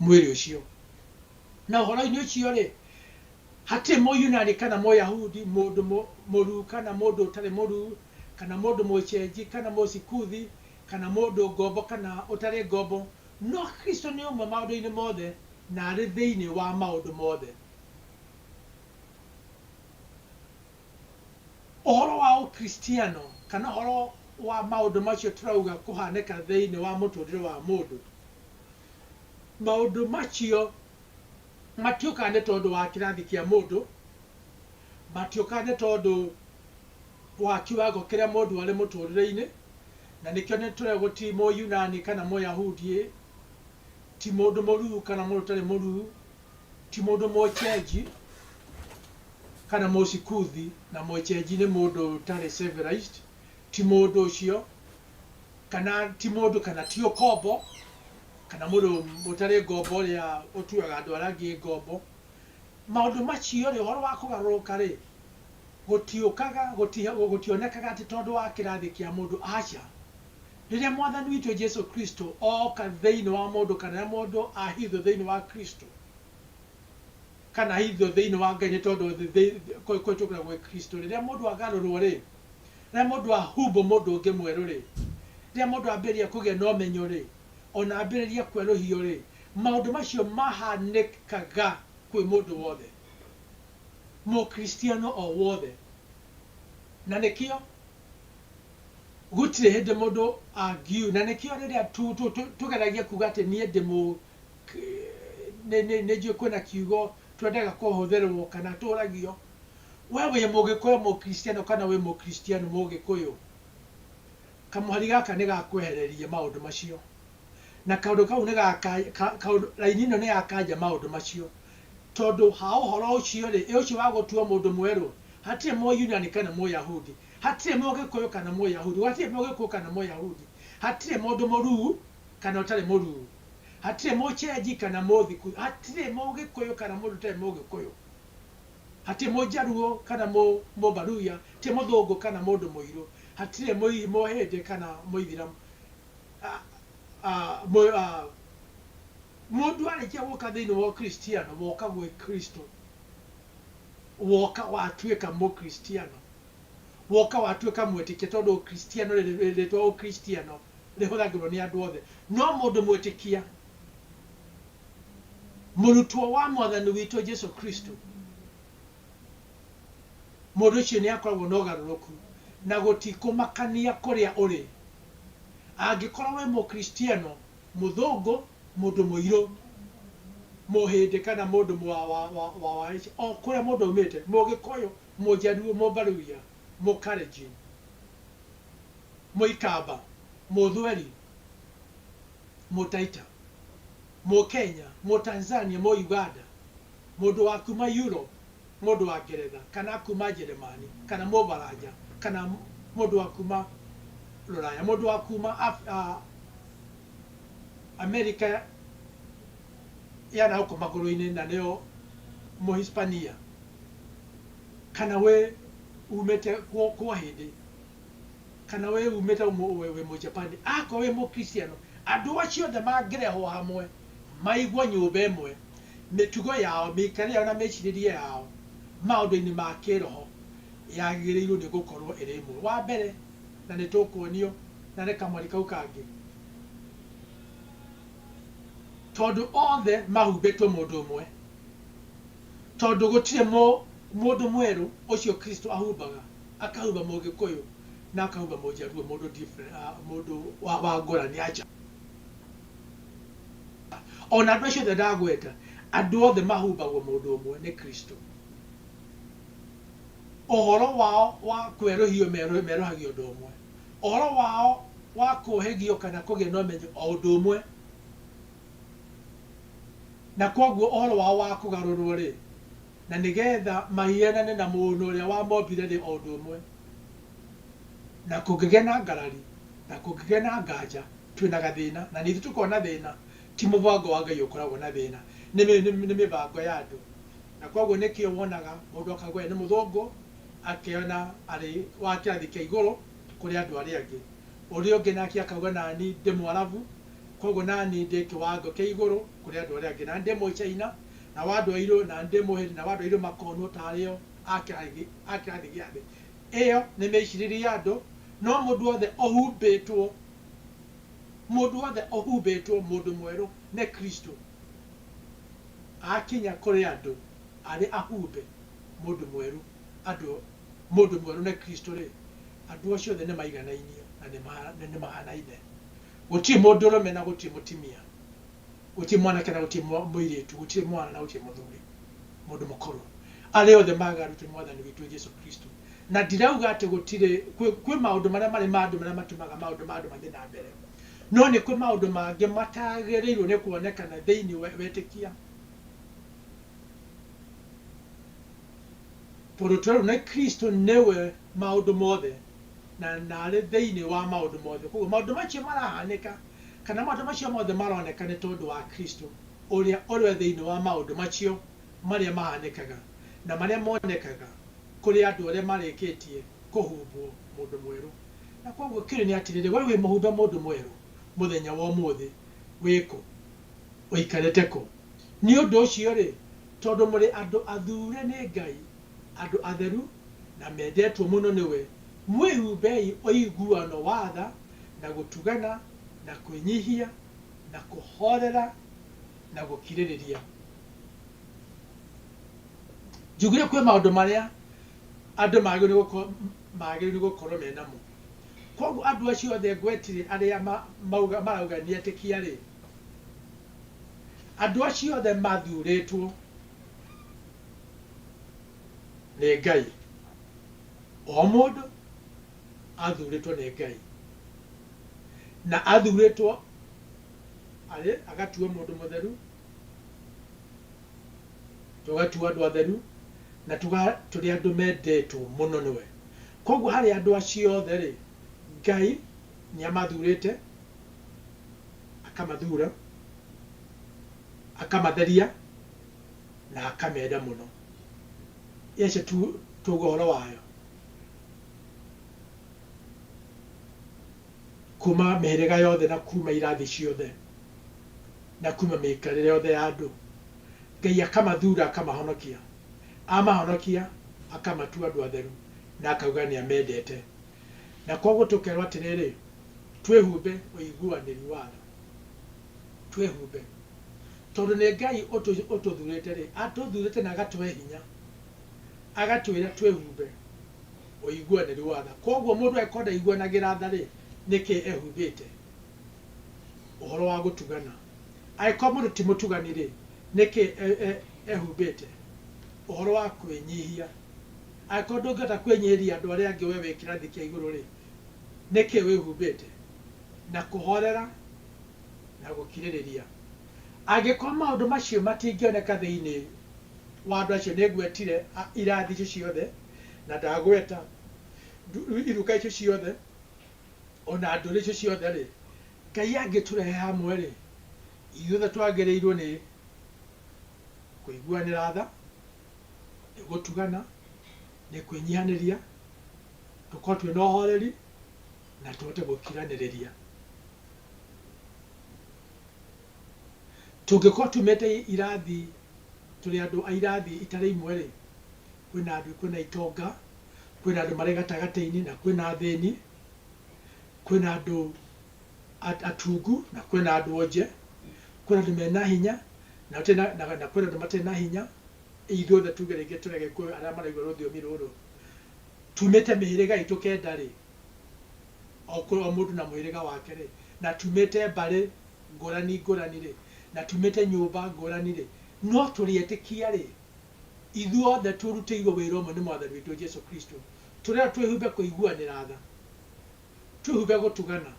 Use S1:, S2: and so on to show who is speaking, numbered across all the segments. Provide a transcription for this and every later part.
S1: mwĩrĩ ũcio na ũhoro-inĩ ũcio rĩ hatirĩ mũyunani kana mũyahudi mũndũ mũ- mũruu kana mũndũ ũtarĩ mũruu kana mũndũ mũcenji kana mũsikuthi kana mũndũ ngombo kana ũtarĩ ngombo No Kristo nĩ ũmwe maũndũ-inĩ mothe, na arĩ thĩinĩ wa maũndũ mothe. Ũhoro wa Ũkristiano, kana ũhoro wa maũndũ macio tũrauga kũhanĩka thĩinĩ wa mũtũũrĩre wa mũndũ, maũndũ macio matiũkaga nĩ tondũ wa kĩrathi kĩa mũndũ, matiũkaga nĩ tondũ Ũha kiwango kĩrĩa mũndũ arĩ mũtũrĩreinĩ, na nĩkĩo nĩtũrĩa gũtirĩ Mũyunani kana Mũyahudi, ti mũndũ mũruu kana mũndũ ũtarĩ mũruu, ti mũndũ Mũchenji kana Mũsikuthi, na Mũchenji nĩ mũndũ ũtarĩ civilized, ti mũndũ ũcio, kana ti mũndũ kana ti ũkombo, kana mũndũ ũtarĩ ngombo ũrĩa ũtuaga andũ arĩa angĩ ngombo. Maũndũ macio-rĩ, ũhoro wa kũgarũrũka-rĩ, gũtiũkaga, gũti, gũtionekaga atĩ tondũ wa kĩrathi kĩa mũndũ, aca. Rĩrĩa Mwathani witũ Jesu Kristo ooka thĩinĩ wa mũndũ, kana rĩrĩa mũndũ ahithwo thĩinĩ wa Kristo, kana ahithwo thĩinĩ wa Ngai, nĩ tondũ thĩ, thĩ, kũ, kũhĩtũkĩra gwĩ Kristo, rĩrĩa mũndũ agarũrwo rĩ, rĩrĩa mũndũ ahumbwo mũndũ ũngĩ mwerũ rĩ, rĩrĩa mũndũ ambĩrĩria kũgĩa na ũmenyo rĩ, o na ambĩrĩria kwerũhio rĩ, maũndũ macio mahanĩkaga kwĩ mũndũ wothe. Mũkristiano o wothe. Na nĩkĩo gũtirĩ hĩndĩ mũndũ angiu, na nĩkĩo rĩrĩa tũgeragia kuuga atĩ niĩ ndĩ mũ, nĩ njũĩ kwĩna kiugo twendaga kũhũthĩrwo kana tũũragio, we wĩ Mũgĩkũyũ Mũkristiano kana wĩ Mũkristiano Mũgĩkũyũ, kamũhari gaka nĩ ga kwehereria maũndũ macio. Na kaũndũ kau nĩ ga, raini ĩno nĩ ya kanja maũndũ macio. Tondũ ha ũhoro ũcio-rĩ, ĩ ũcio wa gũtuwo mũndũ mwerũ, hatirĩ Mũyunani kana Mũyahudi, hatirĩ Mũgĩkũyũ kana Mũyahudi, hatirĩ Mũgĩkũyũ kana Mũyahudi, hatirĩ mũndũ mũruu kana ũtarĩ mũruu, hatirĩ Mũchenji kana Mũthikuyu, hatirĩ Mũgĩkũyũ kana mũndũ ũtarĩ Mũgĩkũyũ, hatirĩ Mũjaruo kana Mũmbaluya, hatirĩ Mũthũngũ kana mũndũ mũirũ, hatirĩ Mũhĩndĩ kana Mũithiramu, a, a, a, Mũndũ arĩkia gũka thĩinĩ wa Ũkristiano, woka gwĩ Kristo, woka watuĩka Mũkristiano, woka watuĩka mwĩtĩkia, tondũ Ũkristiano, rĩtwa Ũkristiano rĩhũthagĩrwo nĩ andũ othe, no mũndũ mwĩtĩkia, mũrutwo wa Mwathani witũ Jesu Kristo, mũndũ ũcio nĩ akoragwo na ũgarũrũku, na gũtikũmakania kũrĩa ũrĩ, angĩkorwo wĩ Mũkristiano, mũthũngũ, mũndũ mũirũ, mũhĩndĩ kana mũndũ wa wa wa wa wa Asia, o kũrĩa mũndũ aumĩte, mũgĩkũyũ, mũjaluo, mũmbaluya, mũkalenjin, mũikamba, mũthweri, mũtaita, mũkenya, mũtanzania, mũuganda, mũndũ wa kuma Europe, mũndũ wa Ngeretha, kana akuuma Njeremani, kana Mũbaranja, kana mũndũ wa kuuma Rũraya, mũndũ wa kuuma Amerika ya na gũkũ magũrũ-inĩ, na nĩyo Mũhispania, kana wĩ uumĩte kwa Hindi, kana wĩ uumĩte wĩ Mũjapani, akorwo wĩ Mũkristiano, andũ acio othe mangĩrehwo hamwe, Maigua nyũmba ĩmwe, mĩtugo yao, mĩikarĩre yao na mĩĩcirĩrie yao maũndũ-inĩ ma kĩĩroho yagĩrĩirũo nĩ gũkorũo ĩrĩ ĩmwe. Wa mbere, na nĩ tũkuonio na nĩ kamweri kau kangĩ, tondũ othe mahumbĩtwo mũndũ ũmwe, tondũ gũtirĩ mũndũ mwerũ ũcio Kristo ahumbaga, akahumba Mũgĩkũyũ na akahumba Mũjaruo, mũndũ wa ngũrani, aca. O na andũ acio othe ndagweta, andũ othe mahumbagwo mũndũ ũmwe, nĩ Kristo. Ũhoro wao wa kwerũhio merũhagio ũndũ ũmwe. Ũhoro wao wa kũũhĩgio kana kũgĩa na ũmenyo o ũndũ ũmwe. Na kwoguo ũhoro wao wa kũgarũrũo-rĩ. na nĩ geetha mahianane na Mũũnũ ũrĩa wamombire nĩ o ũndũ ũmwe. Na kũngĩgĩa na ngarari, na kũngĩgĩa na nganja, twĩ na gathĩĩna, na nithuĩ tũkona thĩĩna, ti mũbango wa Ngai ũkoragwo na thĩĩna, nĩ mĩbango ya andũ. Na kwoguo nĩkĩo wonaga mũndũ akauga we nĩ mũthũngũ, akeyona arĩ wa kĩrathi kĩa igũrũ kũrĩ andũ arĩa angĩ. Ũrĩa ũngĩ nake akauga nani ndĩ Mũarabu, kwoguo nani ndĩ kĩwango kĩa igũrũ kũrĩ andũ arĩa angĩ, nani ndĩ Mũchaina. nao andũ airũ na ndĩ mũhĩri, nao andũ airũ makonwo taarĩ o a kĩrathi a kĩrathi gĩa thĩ ĩyo, nĩ mĩĩcirĩrie ya andũ, no mũndũ wothe ũhumbĩtwo, mũndũ wothe ũhumbĩtwo mũndũ mwerũ nĩ Kristũ, aakinya kũrĩ andũ arĩ ahumbe mũndũ mwerũ, andũ mũndũ mwerũ nĩ Kristũ-rĩ, andũ acio othe nĩmaiganainie na nĩma na nĩmahanaine, gũtirĩ mũndũrũme na gũtirĩ mũtimia. Gũtirĩ mwanake na gũtirĩ mũirĩtu, gũtirĩ mwana na gũtirĩ mũthuri, mũndũ mũkũrũ, arĩa othe maagaru twĩ Mwathani witũ Jesu Kristo. Na ndirauga atĩ gũtirĩ, kwĩ, kwĩ maũndũ marĩa marĩ ma andũ marĩa matumaga maũndũ ma andũ mathiĩ na mbere. No nĩ kwĩ maũndũ mangĩ mataagĩrĩirwo nĩ kuonekana thĩinĩ wa wetĩkia. Tondũ twerwo nĩ Kristo nĩwe maũndũ mothe, na, na arĩ thĩinĩ wa maũndũ mothe. Kwoguo maũndũ macio marahanĩka Kana matũ macio mothe maroneka nĩ tondũ wa Kristo, ũrĩa ũrĩ thĩinĩ wa maũndũ macio marĩa mahanĩkaga na marĩa monekaga kũrĩ andũ arĩa marĩkĩtie kũhumbwo mũndũ mwerũ. Na kwoguo kĩũria nĩ atĩrĩrĩ, wee wĩ mũhumbe mũndũ mwerũ mũthenya wa ũmũthĩ? Wĩ kũ? Ũikarĩte kũ? Nĩ ũndũ ũcio-rĩ, tondũ mũrĩ andũ athuure nĩ Ngai, andũ atheru, na mendetwo mũno nĩwe, mwĩhumbei ũiguano wa tha, na gũtugana, na kwĩnyihia, na kũhoorera, na gũkirĩrĩria. Njugire kwĩ maũndũ marĩa andũ magĩrĩirwo gũkorwo magĩrĩirwo gũkorwo me namo. Koguo andũ acio othe ngwetire arĩa ma- mauga- marauga nĩ etĩkia-rĩ, andũ acio othe mathuurĩtwo nĩ Ngai. O mũndũ athurĩtwo nĩ Ngai, na athurĩtwo arĩ agatuo mũndũ mũtheru, tũgatuo andũ atheru, na tũga tũrĩ andũ mendetwo mũno nĩwe. Koguo harĩ andũ acio othe rĩ, Ngai nĩ amathurĩte, akamathura, akamatheria, na akamenda mũno. Ĩyo nĩcio tu tũuga ũhoro wayo. Kuuma mĩhĩrĩga yothe na kuuma irathi ciothe, na kuuma mĩikarĩre yothe ya andũ, Ngai akamathuura akamahonokia, amahonokia, akamatua andũ atheru, na akauga nĩ amendete. Na kwoguo tũkerwo atĩrĩrĩ, twĩhumbe ũiguanĩri wa tha. Twĩhumbe. Tondũ nĩ Ngai ũtũthuurĩte-rĩ, atũthuurĩte na agatũhe hinya. agatwĩra twĩhumbe ũiguanĩru wa tha. Kwoguo mũndũ angĩkorwo ndaiguanagĩra tha-rĩ, nĩkĩ ehumbĩte ũhoro wa gũtugana? Angĩkorwo mũndũ ti mũtugani-rĩ, nĩkĩ ehumbĩte ũhoro wa kwĩnyihia? Angĩkorwo ndũngĩhota kwĩnyihĩria andũ arĩa angĩ we wĩ kĩrathi kĩa igũrũ-rĩ, nĩkĩ wĩhumbĩte na kũhoorera na gũkirĩrĩria? Angĩkorũo maũndũ macio matingĩoneka thĩinĩ wa andũ acio, nĩ ngwetire irathi icio ciothe, na ndagweta iruka icio ciothe, o na ndũrĩrĩ icio ciothe-rĩ, Ngai angĩtũrehe hamwe-rĩ, ithuothe twagĩrĩirũo nĩ kũiguanĩra tha, nĩ gũtugana, nĩ kwĩnyihanĩria, tũkorũo twĩ na ũhooreri, na tũhote gũkiranĩrĩria. Tũngĩkorwo tumĩte irathi, tũrĩ andũ a irathi itarĩ imwe-rĩ, kwĩna andũ, kwĩna itonga, kwĩna andũ marĩ gatagatĩ-inĩ na kwĩna athĩni, kwĩna andũ atungu na kwĩna andũ onje, kwĩna andũ mena hinya na kwĩna andũ matarĩ na hinya, ithuothe tuge rĩngĩ tũrĩ Agĩkũyũ arĩa maraigua rũthiomi rũrũ, tumĩte mĩhĩrĩga itũ kenda-rĩ, o kwĩ o mũndũ na mũhĩrĩga wake-rĩ, na tumĩte mbarĩ ngũrani ngũrani-rĩ, na tumĩte nyũmba ngũrani-rĩ, no tũrĩ etĩkia-rĩ, ithuothe tũrutĩirwo wĩra ũmwe nĩ Mwathani witũ Jesũ Kristũ. Tũrerwo twĩhumbe kũiguanĩra tha, twĩhumbe gũtugana,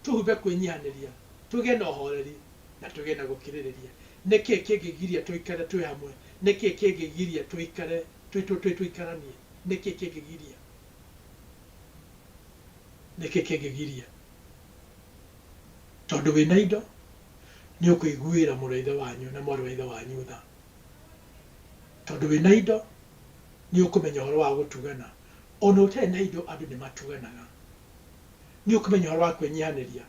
S1: twĩhumbe kwĩnyihanĩria, tũgĩe na ũhooreri, na tũgĩe na gũkirĩrĩria. Nĩ kĩĩ kĩngĩgiria tũikare twĩ hamwe? Nĩ kĩĩ kĩngĩgiria tũikare twĩ twĩtũikaranie? Nĩ kĩĩ kĩngĩgiria? nĩkĩ kĩngĩgiria? Tondũ wĩna indo nĩ ũkũiguĩra mũrũ wa ithe wanyu na mwarĩ wa ithe wanyu tha. Tondũ wĩna indo nĩ ũkũmenya ũhoro wa gũtugana. Ona ũtarĩ na indo andũ nĩ matuganaga. Nĩ ũkũmenya ũhoro wa kwĩnyihanĩria.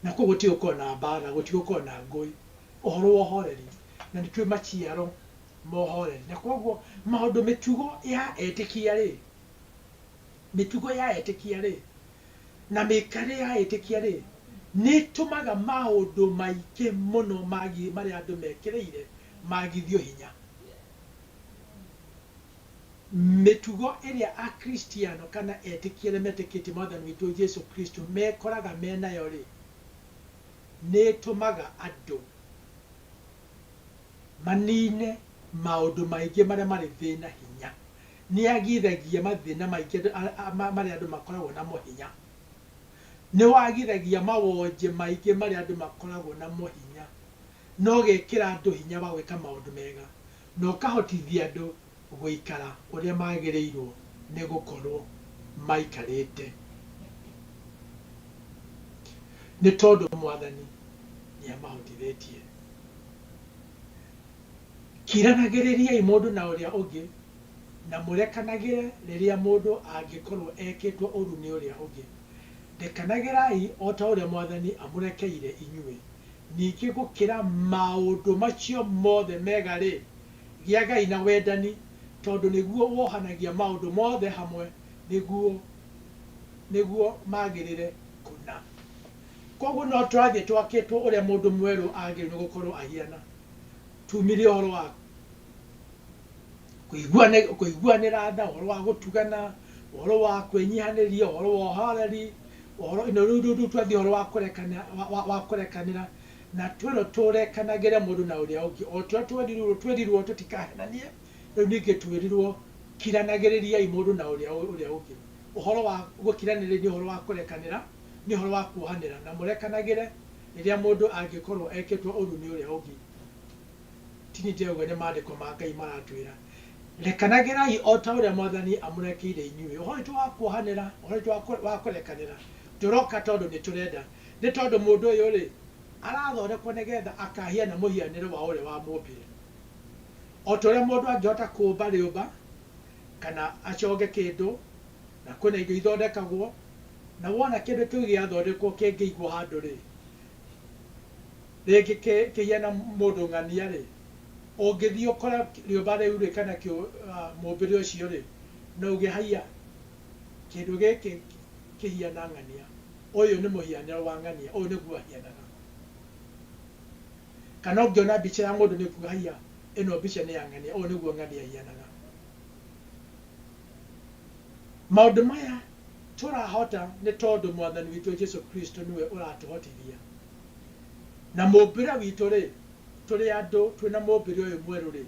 S1: Na kũu gũtigũkorwo na mbaara, gũtigũkorwo na ngũĩ. Ũhoro wa ũhoreri. Na nĩ tũĩ maciaro ma ũhoreri. Na kwoguo maũndũ mĩtugo ya etĩkia rĩ, Mĩtugo ya etĩkia-rĩ, na mĩikarĩre ya etĩkia-rĩ, nĩ ĩtũmaga maũndũ maingĩ mũno magi, marĩa andũ mekĩrĩire magithio hinya. Mĩtugo ĩrĩa Akristiano kana etĩkia arĩa metĩkĩtie Mwathani witũ Jesu Kristo mekoraga me nayo-rĩ, nĩ ĩtũmaga andũ manine maũndũ maingĩ marĩa marĩ thĩna hinya. Nĩ agithagia mathĩna maingĩ marĩa andũ makoragwo namo hinya. Nĩ wagithagia mawonje maingĩ marĩa andũ makoragwo namo hinya. Na ũgekĩra andũ hinya wa gwĩka maũndũ mega, na ũkahotithia andũ gũikara ũrĩa magĩrĩirwo nĩ gũkorwo maikarĩte. Nĩ tondũ Mwathani nĩ amahotithĩtie. Kiranagĩrĩriai mũndũ na ũrĩa ũngĩ, na mũrekanagĩre rĩrĩa mũndũ angĩkorwo ekĩtwo ũũru nĩ ũrĩa ũngĩ. Rekanagĩrai o ta ũrĩa Mwathani amũrekeire inyuĩ. Ningĩ gũkĩra maũndũ macio mothe mega-rĩ, gĩagai na wendani, tondũ nĩguo wohanagia maũndũ mothe hamwe nĩguo nĩguo magĩrĩre kũna. Kwoguo no tũrathiĩ twakĩtwo ũrĩa mũndũ mwerũ agĩrĩirwo nĩ gũkorwo ahiana. tumire ũhoro wa kũiguane- kũiguanĩra tha ũhoro wa gũtugana ũhoro wa kwĩnyihanĩria ũhoro wa ũhoreri ũhoro ino rĩu rĩu twathiĩ ũhoro wa kũrekana- wa- wa- wa kũrekanĩra na twĩrwo tũrekanagĩre mũndũ na ũrĩa ũngĩ o tũrĩa twerirwo twerirwo tũtikahenanie rĩu ningĩ twĩrirwo kiranagĩrĩriai mũndũ na ũrĩa ũ- ũrĩa ũngĩ ũhoro wa gũkiranĩrĩria nĩ ũhoro wa kũrekanĩra nĩ ũhoro wa kuohanĩra na mũrekanagĩre Rĩrĩa mũndũ angĩkorũo ekĩtwo ũũru nĩ ũrĩa ũngĩ, ti niĩ ndĩrauga, nĩ Maandĩko ma Ngai maratwĩra, Rekanagĩrai o ta ũrĩa Mwathani amũrekeire inyuĩ. Ũhoro witũ wa kuohanĩra, ũhoro witũ wa kũrekanĩra ndũroka tondũ nĩ tũrenda. Nĩ tondũ mũndũ ũyũ-rĩ, arathondekwo nĩgetha akahiane mũhianĩre wa ũrĩa wamũmbire. O ta ũrĩa mũndũ angĩhota kũũmba rĩũmba, kana aconge kĩndũ, na kwĩna indo ithondekagwo, Na wona kĩndũ kĩu gĩathondekwo kĩngĩigwo handũ-rĩ, rĩngĩ kĩhiana mũndũ ng'ania-rĩ, ũngĩthiĩ ũkore rĩũmba rĩu-rĩ, kana mũmbĩre ũcio-rĩ, no uge, Haiya! Kĩndũ gĩkĩ kĩhiana ng'ania. Ũyũ nĩ mũhianĩre wa ng'ania. Ũyũ nĩguo ahianaga. Kana ũngĩona mbica ya mũndũ nĩũkuga, Haiya! Ĩno mbica nĩ ya ng'ania. Ũũ nĩguo ng'ania ĩhianaga. Maũndũ maya Tũrahota nĩ tondũ Mwathani witũ Jesu Kristo nĩwe ũratũhotithia. Na mũmbĩre witũ-rĩ, tũrĩ andũ twĩ na mũmbĩre ũyũ mwerũ-rĩ,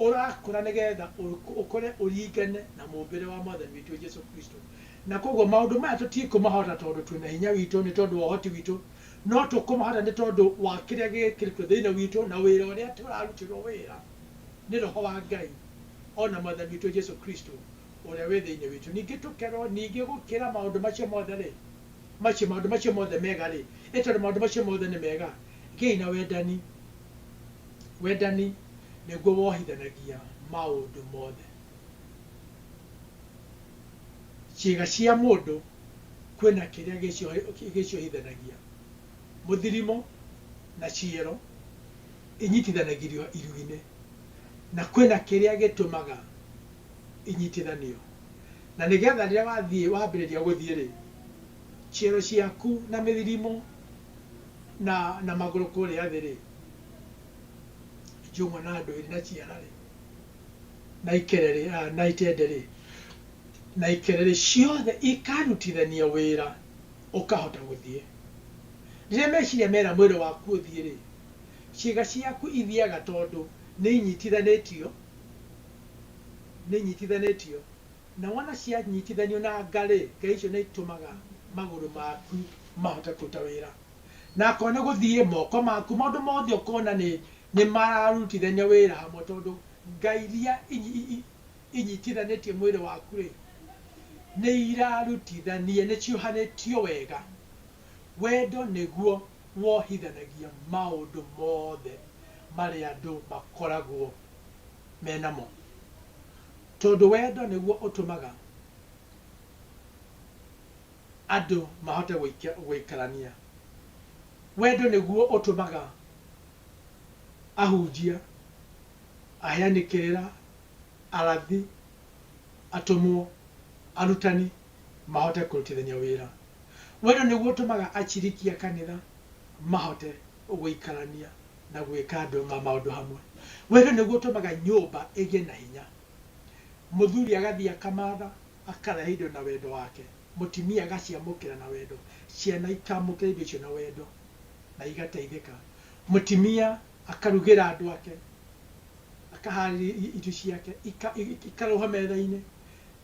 S1: ũrakũra nĩgetha ũkũre ũringane na mũmbĩre wa Mwathani witũ Jesu Kristo. Na kwoguo maũndũ maya tũtikũmahota tondũ twĩ na hinya witũ, nĩ tondũ wa ũhoti witũ, no tũkũmahota nĩ tondũ wa kĩrĩa gĩkĩrĩtwo thĩinĩ witũ na wĩra ũrĩa tũrarutĩrwo wĩra nĩ Roho wa Ngai, o na Mwathani witũ Jesu Kristo, ũrĩa wĩ thĩinĩ witũ ningĩ tũkerwo ningĩ gũkĩra maũndũ macio mothe rĩ macio maũndũ macio mothe mega rĩ ĩ tondũ maũndũ macio mothe nĩ mega gĩi na wendani wendani nĩguo wohithanagia maũndũ mothe ciĩga cia mũndũ kwĩna kĩrĩa gĩcio- gĩciohithanagia mũthirimo na ciero inyitithanagirio iruinĩ Na kwĩna kĩrĩa gĩtũmaga inyitithanio. Na nĩgetha rĩrĩa wathiĩ, wambĩrĩria gũthiĩ-rĩ, ciero ciaku na mĩthirimo na na magũrũ kũrĩa thĩ-rĩ, njũng'wa na ndwĩrĩ na ciara-rĩ, na ikere-rĩ, na itende-rĩ, na ikere-rĩ, ciothe ikarutithania wĩra ũkahota gũthiĩ. Rĩrĩa meciria mera mwĩrĩ waku ũthiĩ-rĩ, Ciĩga ciaku ithiaga tondũ nĩinyitithanĩtio, nĩinyitithanĩtio, na wona cianyitithanio na nga-rĩ, nga icio nĩitũmaga magũrũ maku mahote kũruta wĩra. Na akorwo nĩ gũthiĩ, moko maku, maũndũ mothe ũkona nĩ, nĩmararutithania wĩra hamwe tondũ nga iria inyitithanĩtie mwĩrĩ waku-rĩ, nĩirarutithania, nĩciũhanĩtio wega. Wendo nĩguo wohithanagia maũndũ mothe marĩa andũ makoragwo me namo, tondũ wendo nĩguo ũtũmaga andũ mahote gũikarania. Wendo nĩguo ũtũmaga ahunjia, aheani kĩrĩra, arathi, atũmwo, arutani mahote kũrutithania wĩra. Wendo nĩguo ũtũmaga aciriki a kanitha mahote gũikarania na gwĩka maũndũ hamwe. Wendo nĩguo ũtũmaga nyũmba ĩgĩe na hinya. Mũthuri agathiĩ akamatha, akarehe indo na wendo wake, mũtimia agaciamũkĩra na wendo, ciana ikamũkĩra indo icio na wendo na igateithĩka. Mũtimia Akarugĩra andũ ake, akahaarĩria irio ciake, ikarũga metha-inĩ,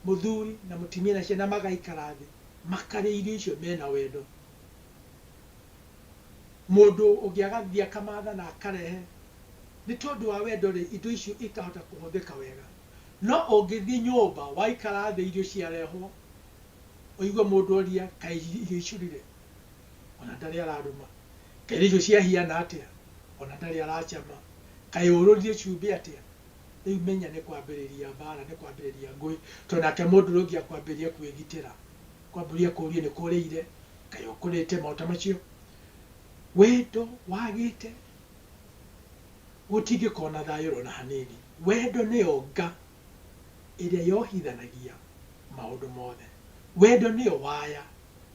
S1: mũthuri na mũtimia na ciana magaikara thĩ, makarĩa irio icio mena wendo. Mũndũ ũngĩ agathiĩ akamatha na akarehe. Nĩ tondũ wa wendo-rĩ, indo icio ikahota kũhũthĩka wega. No ũngĩthiĩ nyũmba, waikara thĩ irio ciarehwo, ũigue mũndũ oria, kaĩ irio icurire? ona ndarĩ ararũma, kaĩ irio ciahiana atĩa, ona ndarĩ aracama, kaĩ ũrũrire cumbĩ atĩa, rĩu menya nĩ kwambĩrĩria mbaara, nĩ kwambĩrĩria ngũĩ, tondũ nake mũndũ ũrĩa ũngĩ akwambĩrĩria kwĩgitĩra, akwambũrĩrie akũrie nĩ kũrĩire, kaĩ ũkũrĩte, maũndũ ta macio. Wendo wagĩte, gũtingĩkorwo na thayũ ona hanini. Wendo nĩyo nga ĩrĩa yohithanagia maũndũ mothe. Wendo nĩyo waya.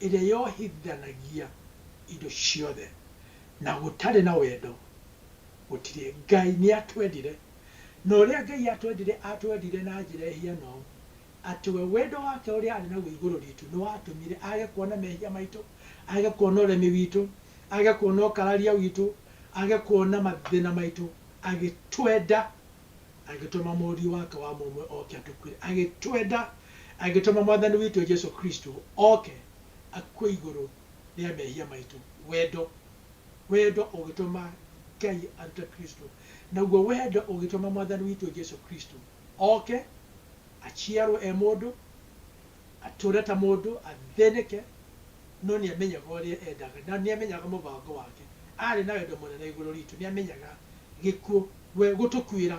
S1: ĩrĩa yohithanagia indo ciothe, na gũtarĩ na wendo gũtirĩ. Ngai nĩatwendire, na ũrĩa Ngai atwendire, atwendire na njĩra ĩhiana ũũ, atĩ we wendo wake ũrĩa arĩ naguo igũrũ ritũ nĩwatũmire age kuona mehia maitũ, age kuona ũremi witũ, age kuona ũkararia witũ, age kuona mathĩna maitũ, agĩtwenda. agĩtũma mũriũ wake wa mũmwe oke atũkuĩre, agĩtwenda, agĩtũma Mwathani witũ Jesu Kristo oke akue igũrũ rĩa mehia maitũ. Wendo, wendo ũgĩtũma Ngai arute Kristo, naguo wendo ũgĩtũma Mwathani witũ Jesu Kristo oke, aciarwo e mũndũ, atũre ta mũndũ, athĩnĩke, no nĩ amenyaga ũrĩa endaga, na nĩ amenyaga mũbango wake. Arĩ na wendo mũnene igũrũ ritũ, nĩ amenyaga gĩkuũ We gũtũkuĩra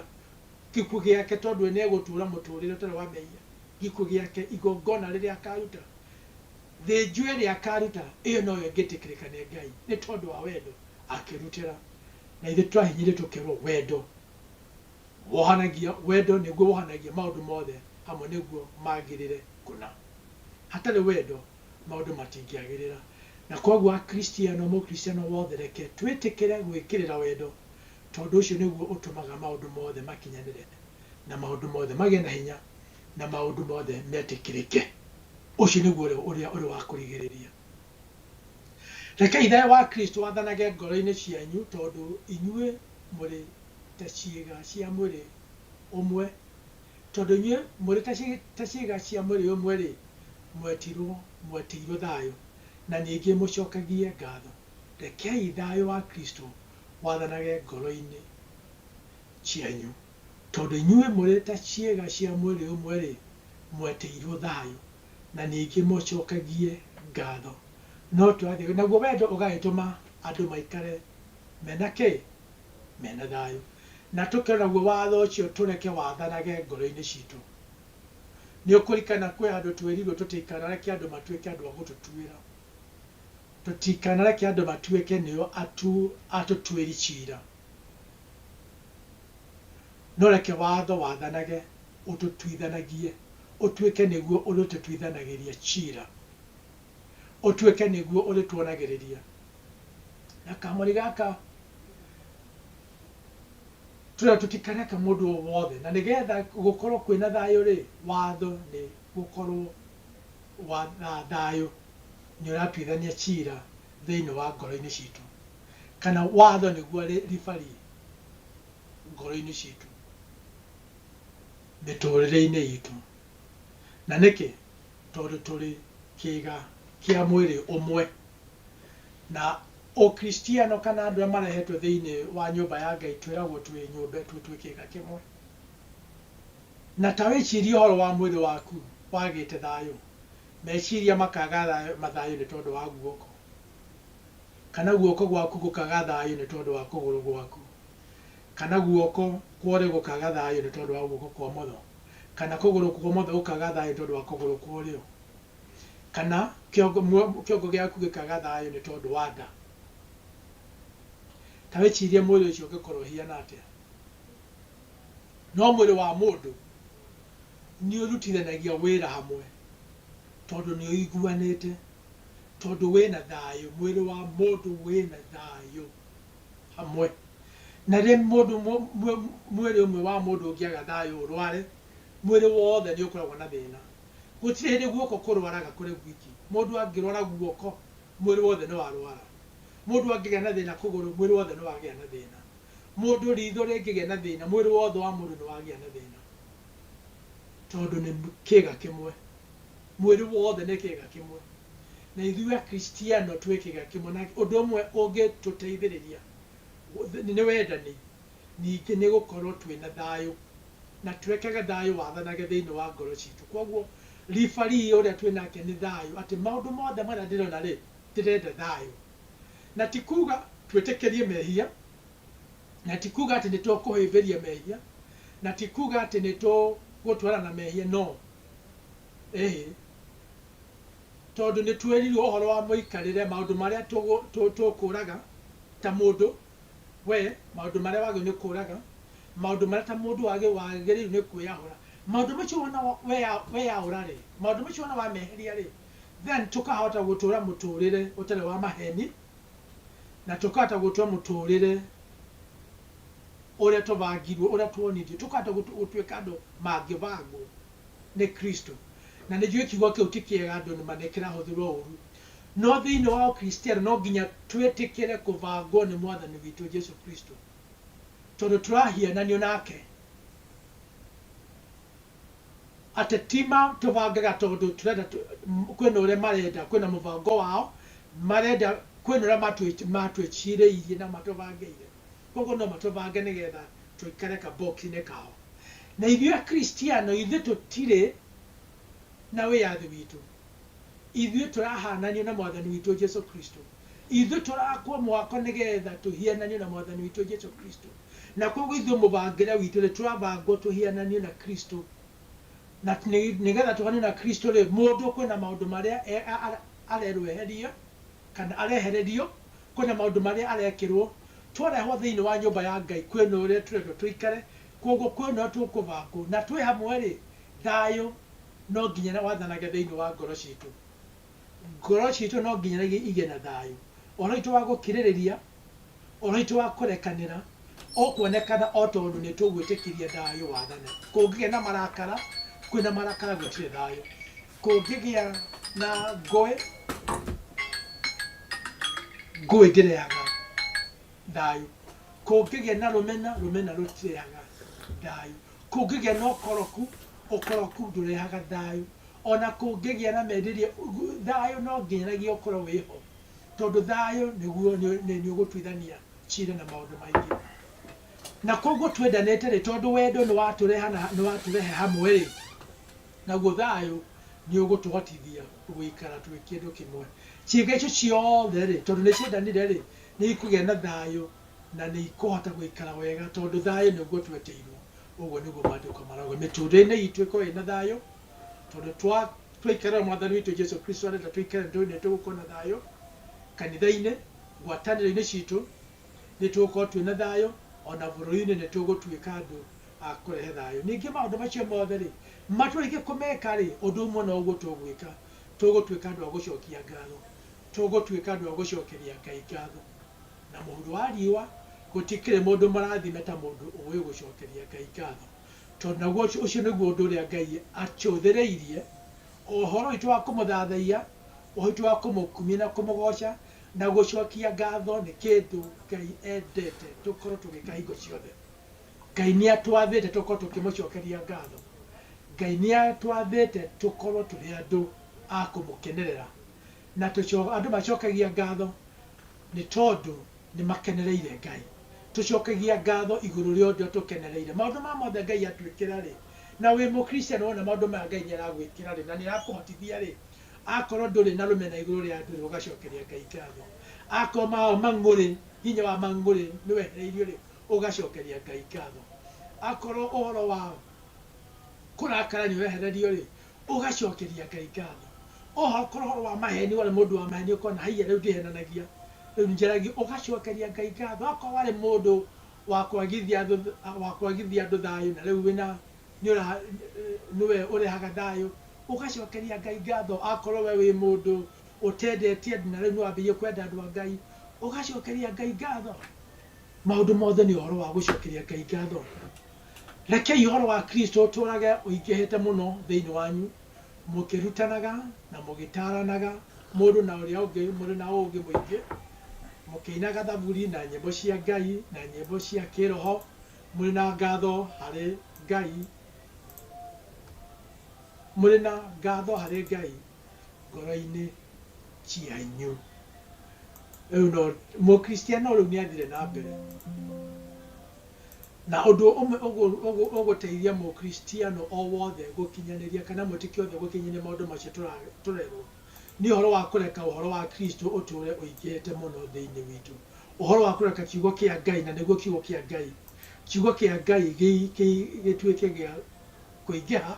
S1: gĩkuũ gĩake tondũ we nĩegũtũũra mũtũũrĩre ũtarĩ wa mehia, gĩkuũ gĩake, igongona rĩrĩa akaaruta, thĩnjo ĩrĩa akaaruta, ĩyo no yo ĩngĩtĩkĩrĩka nĩ Ngai, nĩ tondũ wa wendo akĩrutĩra. Na ithuĩ tũrahinyĩrĩrio tũkerwo wendo wohanagia, wendo nĩguo wohanagia maũndũ mothe hamwe nĩguo magĩrĩre kũna. Hatarĩ wendo maũndũ matingĩagĩrĩra. Na kwoguo Akristiano, Mũkristiano wothe reke twĩtĩkĩre gwĩkĩrĩra wendo tondũ ũcio nĩguo ũtũmaga maũndũ mothe makinyanĩre, na maũndũ mothe magĩe na hinya, na maũndũ mothe metĩkĩrĩke. Ũcio nĩguo ũrĩa ũrĩ wa kũrigĩrĩria. Rekei thayũ wa Kristo wathanage ngoro-inĩ cianyu, tondũ inyuĩ mũrĩ ta ciĩga cia mwĩrĩ ũmwe. Tondũ inyuĩ mũrĩ ta ciĩga cia mwĩrĩ ũmwe-rĩ, mwetirwo, mwetĩirwo thayũ, na ningĩ mũcokagie ngatho. Rekei thayũ wa Kristo mwathanage ngoro-inĩ cianyu. Tondũ inyuĩ mũrĩ ta ciĩga cia mwĩrĩ ũmwe-rĩ, mwetĩirwo thayũ, na ningĩ mũcokagie ngatho. No twathĩkagĩre, naguo wendo ũgagĩtũma andũ maikare me na kĩ? Me na thayũ. Na tũkĩrora naguo watho ũcio, tũreke wathanage ngoro-inĩ citũ. Nĩ ũkũririkana kwĩ handũ twerirwo tũtikanareke andũ matuĩke andũ a gũtũtuĩra. Tũtikanareke andũ matuĩke nĩo atũtuĩri ciira, no reke watho wathanage ũtũtuithanagie, ũtuĩke nĩguo ũrĩtũtuithanagĩria ciira, ũtuĩke nĩguo ũrĩtuonagĩrĩria. Na kamũri gaka tũrĩa tũtikareke mũndũ o wothe, na nĩgetha gũkorwo kwĩna thayũ-rĩ, watho nĩ gũkorwo. wa thayũ nĩ ũratuithania cira thĩinĩ wa ngoro-inĩ citũ, kana watho nĩguo ribari ngoro-inĩ citũ, mĩtũrĩre-inĩ itũ. Na nĩkĩ? Tondũ tũrĩ kĩga kĩa mwĩrĩ ũmwe. Na ũkristiano kana andũ arĩa marehetwo thĩinĩ wa nyũmba ya Ngai twĩragwo twĩ nyũmba, twĩ kĩga kĩmwe. Na ta wĩcirie ũhoro wa mwĩrĩ waku wagĩte thayũ, meciria makaga thayũ, mathayũ nĩ tondũ wa guoko, kana guoko gwaku gũkaga thayũ nĩ tondũ wa kũgũrũ gwaku, kana guoko kwa ũrĩo gũkaga thayũ nĩ tondũ wa guoko kwa ũmotho, kana kũgũrũ kwa ũmotho gũkaga thayũ nĩ tondũ wa kũgũrũ kwa ũrĩo, kana kĩongo, muo, kĩongo gĩaku gĩkaga thayũ nĩ tondũ wa nda. Ta wĩcirie mwĩrĩ ũcio ũngĩkorũo ũhiana atĩa. No mwĩrĩ wa mũndũ nĩũrutithanagia wĩra hamwe tondũ nĩũiguanĩte, tondũ wĩ na thayũ, mwĩrĩ wa mũndũ wĩ na thayũ hamwe. Na rĩrĩa mũndũ mwĩrĩ ũmwe wa mũndũ ũngĩaga thayũ ũrware, mwĩrĩ wothe nĩũkoragwo na thĩna. Gũtirĩ hĩndĩ guoko kũrwaraga kũrĩ gwiki. Mũndũ angĩrwara guoko, mwĩrĩ wothe nĩwarwara. Mũndũ angĩgĩa na thĩna kũgũrũ, mwĩrĩ wothe nĩwagĩa na thĩna. Mũndũ riitho rĩngĩgĩa na thĩna, mwĩrĩ wothe wa mũndũ nĩwagĩa na thĩna, tondũ nĩ kĩĩga kĩmwe. Mwĩrĩ wothe nĩ kĩĩga kĩmwe. Na ithuĩ Akristiano twĩ kĩĩga kĩmwe, na ũndũ ũmwe ũngĩtũteithĩrĩria nĩ wendani, ningĩ nĩ gũkorwo twĩ na thayũ, na tũrekage thayũ wathanage thĩinĩ wa ngoro ciitũ. Kwoguo referee ũrĩa twĩ nake nĩ thayũ, atĩ maũndũ mothe marĩa ndĩrona-rĩ, ndĩrenda thayũ. Na ti kuuga twĩtĩkĩrie mehia, na ti kuuga atĩ nĩ tũkũhĩmbĩria mehia, na ti kuuga atĩ nĩ tũgũtwarana na mehia, no ĩhĩ, tondũ nĩ twĩrirwo ũhoro wa mũikarĩre, maũndũ marĩa tũkũũraga ta mũndũ we, maũndũ marĩa wagĩrĩirwo nĩ kũũraga, maũndũ marĩa ta mũndũ wagĩrĩirwo nĩ kwĩyahũra. Maũndũ macio wona weyaũra-rĩ, maũndũ macio wona wameheria-rĩ, then tũkahota gũtũra mũtũrĩre ũtarĩ wa maheni na tũkahota gũtũra mũtũrĩre ũrĩa tũbangirwo, ũrĩa twonithio, tũkahota gũtuĩka andũ mangĩbangwo nĩ Kristo. Na nĩjũĩ kiugo kĩu ti kĩega andũ nĩ ma nĩ kĩrahũthĩrwo ũru. No thĩinĩ wa ũkristiano no nginya twĩtĩkĩre kũbangwo nĩ Mwathani witũ Jesu Kristo tondũ tũrahiananio nake. Ateti ma tũbangaga tondũ tũrenda kwĩna ũrĩa marenda kwĩna mũbango wao marenda kwĩna ũrĩa matwĩcirĩirie na matũbangĩire kwoguo no matũbange nĩgetha tũikare ka box inĩ kao na ithuĩ akristiano ithuĩ tũtirĩ na wĩyathi witũ Ithuĩ tũrahaananio na Mwathani witũ Jesu Kristo. Ithuĩ tũrakwo mwako nĩ getha tũhiananio na Mwathani witũ Jesu Kristo. Na kwoguo ithuĩ mũbangĩre witũ nĩ tũrabangwo tũhiananio na Kristo. Na nĩ getha tũhiananio na Kristo-rĩ, mũndũ kwĩ na maũndũ marĩa arerwo eherie kana arehererio, kwĩ na maũndũ marĩa arekĩrwo. Twarehwo thĩinĩ wa nyũmba ya Ngai kwĩ na ũrĩa tũrendwo tũikare, kwoguo kwĩ na ũrĩa tũkũbangwo. Na twĩ hamwe-rĩ, thayũ. no nginya na wathanage thĩinĩ wa ngoro citũ. Ngoro citũ no nginya na igĩe na thayũ. Ũhoro witũ wa gũkirĩrĩria, ũhoro witũ wa kũrekanĩra, ũkuonekana o tondũ nĩ tũgwĩtĩkĩria thayũ wathane. Kũngĩgĩa na marakara, kwĩ na marakara gũtirĩ thayũ. Kũngĩgĩa na ngũĩ, ngũĩ ndĩrehaga thayũ. Kũngĩgĩa na rũmena, rũmena rũtirehaga thayũ. Kũngĩgĩa na ũkoroku, ũkoroku ndũrehaga thayũ. O na kũngĩgĩa na merirĩria, thayũ no ngĩnyagia ũkorũo wĩ ho, tondũ thayũ nĩguo nĩ ũgũtuithania cira na maũndũ maingĩ. Na kwoguo twendanĩte-rĩ, tondũ wendo nĩ watũrehe hamwe-rĩ, naguo thayũ nĩ ũgũtũhotithia gũikara twĩ kĩndũ kĩmwe. Ciĩga icio ciothe-rĩ, tondũ nĩ ciendanire-rĩ, nĩ ikũgĩa na thayũ na nĩ ikũhota gũikara wega tondũ thayũ nĩguo tweteirwo, ũguo nĩguo Maandĩko marauga. Mĩtũũrĩre-inĩ itũ ĩkorwo ĩna thayũ, tondũ twaikara na Mwathani witũ Jesu Kristo arenda tũikare nĩ tũĩ nĩ tũgũkorwo na thayũ kanitha-inĩ, ngwatanĩro-inĩ citũ nĩ tũgũkorwo twĩna thayũ, o na bũrũri-inĩ nĩ tũgũtuĩka andũ a kũrehe thayũ. Ningĩ maũndũ macio mothe-rĩ, matũrĩkia kũmeka-rĩ, ũndũ ũmwe noguo tũgwĩka, tũgũtuĩka andũ a gũcokia ngatho, tũgũtuĩka andũ a gũcokeria Ngai ngatho. na mũhuro wa riũa, gũtikĩrĩ mũndũ mũrathime ta mũndũ ũũĩ gũcookeria Ngai ngaatho, tondũ naguo ũcio nĩguo ũndũ ũrĩa Ngai atũũthĩrĩirie, o ũhoro witũ wa kũmũthaathaiya, ũhoro witũ wa kũmũkumia na kũmũgooca, na gũcookia ngaatho nĩ kĩndũ Ngai endete tũkorwo tũgĩĩka hingo ciothe. Ngai nĩatwathĩte tũkorwo tũkĩmũcookeria ngaatho. Ngai nĩatwathĩte tũkorwo tũrĩ andũ a kũmũkenerera, na andũ macookagia ngaatho Nĩ tondũ nĩ makenereire Ngai. Tũcokagia ngatho igũrũ rĩa ũndũ atũkenereire. Maũndũ maya mothe Ngai atwĩkĩra-rĩ, na wĩ Mũkristiano wona maũndũ maya Ngai nĩ aragwĩkĩra-rĩ, na nĩ arakũhotithia-rĩ, akorwo ndũrĩ na rũmena igũrũ rĩa andũ-rĩ, ũgacokeria Ngai ngatho. Akorwo mao mang'ũrĩ, hinya wa mang'ũrĩ nĩ wehereirio-rĩ, ũgacokeria Ngai ngatho. Akorwo ũhoro wa kũrakara nĩ wehererio-rĩ, ũgacokeria Ngai ngatho. Oho korwo ũhoro wa maheni warĩ mũndũ wa maheni ũkona haiya rĩu ndihenanagia, rĩu njaragia, ũgacokeria Ngai ngatho. Akorwo warĩ mũndũ wa kwagithia wa kwagithia andũ thayũ na rĩu wĩna nĩũra nĩwe ũrehaga thayũ, ũgacokeria Ngai ngatho. Akorwo we wĩ mũndũ ũtendetie andũ na rĩu nĩwambĩrĩirie kwenda andũ a Ngai, ũgacokeria Ngai ngatho. Maũndũ mothe nĩ ũhoro wa gũcokeria Ngai ngatho. Rekei ũhoro wa Kristo ũtũũrage ũingĩhĩte mũno thĩinĩ wanyu, mũkĩrutanaga na mũgĩtaaranaga mũndũ na ũrĩa ũngĩ mũrĩ na ũũgĩ mũingĩ, mũkĩinaga thaburi na nyĩmbo cia Ngai na nyĩmbo cia kĩĩroho, mũrĩ na ngatho harĩ Ngai mũrĩ na ngatho harĩ Ngai ngoro-inĩ cianyu. Rĩu no Mũkristiano rĩu nĩ athire na mbere. Na ũndũ ũmwe ũgũteithia Mũkristiano o wothe gũkinyanĩria kana mwĩtĩkia wothe gũkinyanĩria maũndũ macio tũrerũo, nĩ ũhoro wa kũreka ũhoro wa Kristo ũtũũre ũingĩhĩte mũno thĩinĩ witũ, ũhoro wa kũreka Kiugo kĩa Ngai, na nĩguo Kiugo kĩa Ngai, Kiugo kĩa Ngai gĩtuĩke gĩa kũingĩha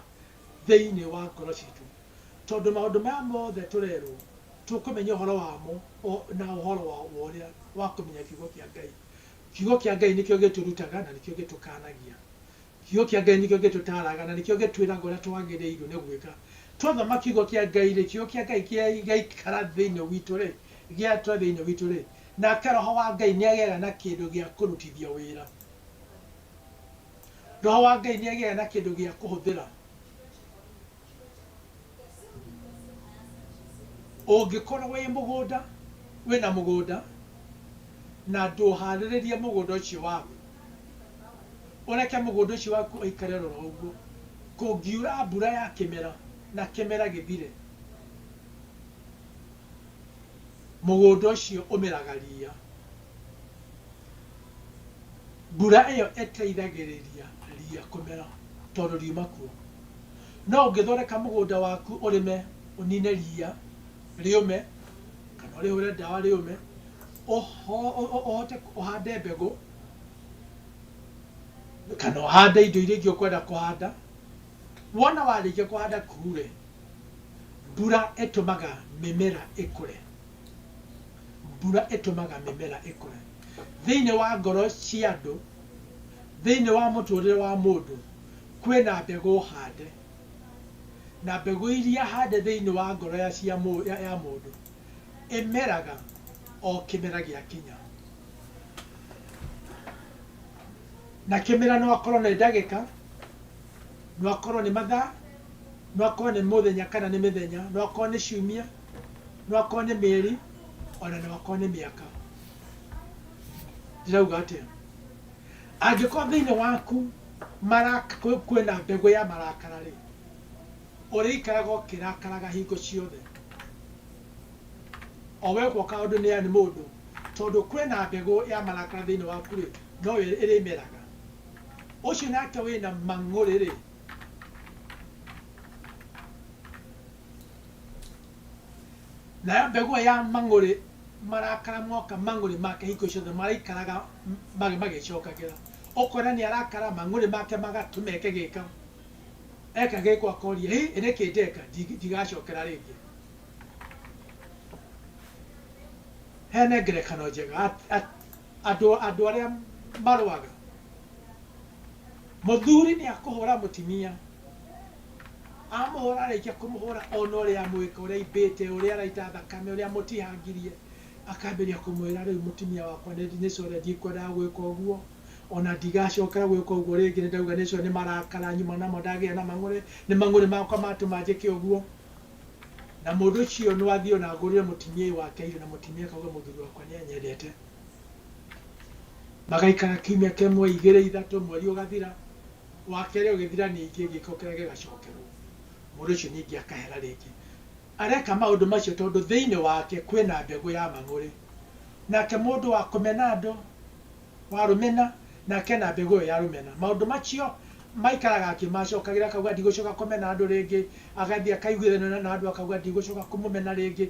S1: thĩinĩ wa ngoro citũ. Tondũ maũndũ maya mothe tũrerũo, tũkũmenya ũhoro wamo na ũhoro wa ũrĩa wa kũmenya Kiugo kĩa Ngai. Kiugo kĩa Ngai nĩkĩo gĩtũrutaga na nĩkĩo gĩtũkaanagia. Kiugo kĩa Ngai nĩkĩo gĩtũtaaraga na nĩkĩo gĩtwĩraga ũrĩa twagĩrĩirwo nĩ gwĩka. Twathoma kiugo kĩa Ngai-rĩ, kiugo kĩa Ngai gĩaikara thĩinĩ witũ-rĩ, gĩatũra thĩinĩ witũ-rĩ, nake Roho wa Ngai nĩagĩaga na kĩndũ gĩa kũrutithia wĩra. Roho wa Ngai nĩ agĩaga na kĩndũ gĩa kũhũthĩra. Ũngĩkorwo wĩ mũgũnda, wĩ na mũgũnda na ndũharĩrĩrie mũgũnda ũcio waku, ũreke mũgũnda ũcio waku ũikare o ro ũguo, kũngiura mbura ya kĩmera na kĩmera gĩthire, mũgũnda ũcio ũmeraga ria. Mbura ĩyo ĩteithagĩrĩria ria kũmera tondũ riuma kuo. No ũngĩthondeka mũgũnda waku ũrĩme ũnine ria rĩũme kana ũrĩhũre ndawa rĩũme, ũhote ũhande mbegũ kana ũhande indo iria ingĩ ũkwenda kũhanda, wona warĩkia kũhanda kuure Mbura ĩtũmaga mĩmera ĩkũre. Mbura ĩtũmaga mĩmera ĩkũre. Thĩinĩ wa ngoro cia andũ, thĩinĩ wa mũtũrĩre wa mũndũ, kwĩna mbegũ hande. Na mbegũ iria hande thĩinĩ wa ngoro ya cia ya mũndũ, ĩmeraga o kĩmera gĩa kinya. Na kĩmera no akorwo nĩ ndagĩka, no akorwo nĩ mathaa. No akorwo nĩ mũthenya kana nĩ mĩthenya, no akorwo nĩ ciumia, no akorwo nĩ mĩeri, ona no akorwo nĩ mĩaka. Ndĩrauga atĩa? Angĩkorwo thĩinĩ waku maraka kwĩ- kwĩna mbegũ ya marakara rĩ, ũrĩikaraga ũkĩrakaraga hingo ciothe o we gwaka ũndũ nĩ nĩ mũndũ tondũ kwĩna mbegũ ya marakara thĩinĩ waku rĩ no ĩrĩmeraga ũcio nake wĩna mang'ũrĩ rĩ nayo mbegũ ĩyo ya mang'ũrĩ marakara moka mang'ũrĩ make hingo ciothe maraikaraga m- magĩ magĩcokagĩra ũkona nĩ arakara mang'ũrĩ make magatũma eke gĩka eka gĩko akoria hĩ ĩrĩ kĩndeka ndigacokera rĩngĩ hene ngerekano njega at- at- Andũ andũ arĩa marũaga. Mũthuri nĩ akũhũra mũtimia, amũhũra arĩkia kũmũhũra ona ũrĩa amwĩka, ũrĩa aimbĩte, ũrĩa araita thakame, ũrĩa amũtihangirie, akambĩrĩria kũmwĩra rĩu mũtimia wakwa nĩ nĩ sure ndikwendaga gwĩka ũguo, ona ndigacokera gwĩka ũguo rĩngĩ nĩ ndauga nĩ sure nĩ marakara nyuma namo ndagĩa na mang'ũrĩ, nĩ mang'ũrĩ makwa matũma njĩke ũguo. Na mũndũ ũcio no athiĩ o na agũrĩre mũtimiei wake irio na mũtimiei akauge mũthuri wakwa nĩ anyendete. Magaikara kiumia kĩmwe, igĩrĩ, ithatũ, mweri ũgathira, wa kerĩ ũgĩthira ningĩ gĩko kĩrĩa gĩgacokerwo. Mũndũ ũcio ningĩ akahera rĩngĩ. Areka maũndũ macio tondũ thĩinĩ wake kwĩna mbegũ ya mang'ũrĩ. Nake mũndũ wa kũmena andũ wa rũmena, nake na mbegũ ĩyo ya rũmena. Maũndũ macio maikaraga akĩmacokagĩrĩra, akauga, Ndigũcoka kũmena andũ rĩngĩ. Agathiĩ akaiguithania na andũ, akauga, Ndigũcoka kũmũmena rĩngĩ.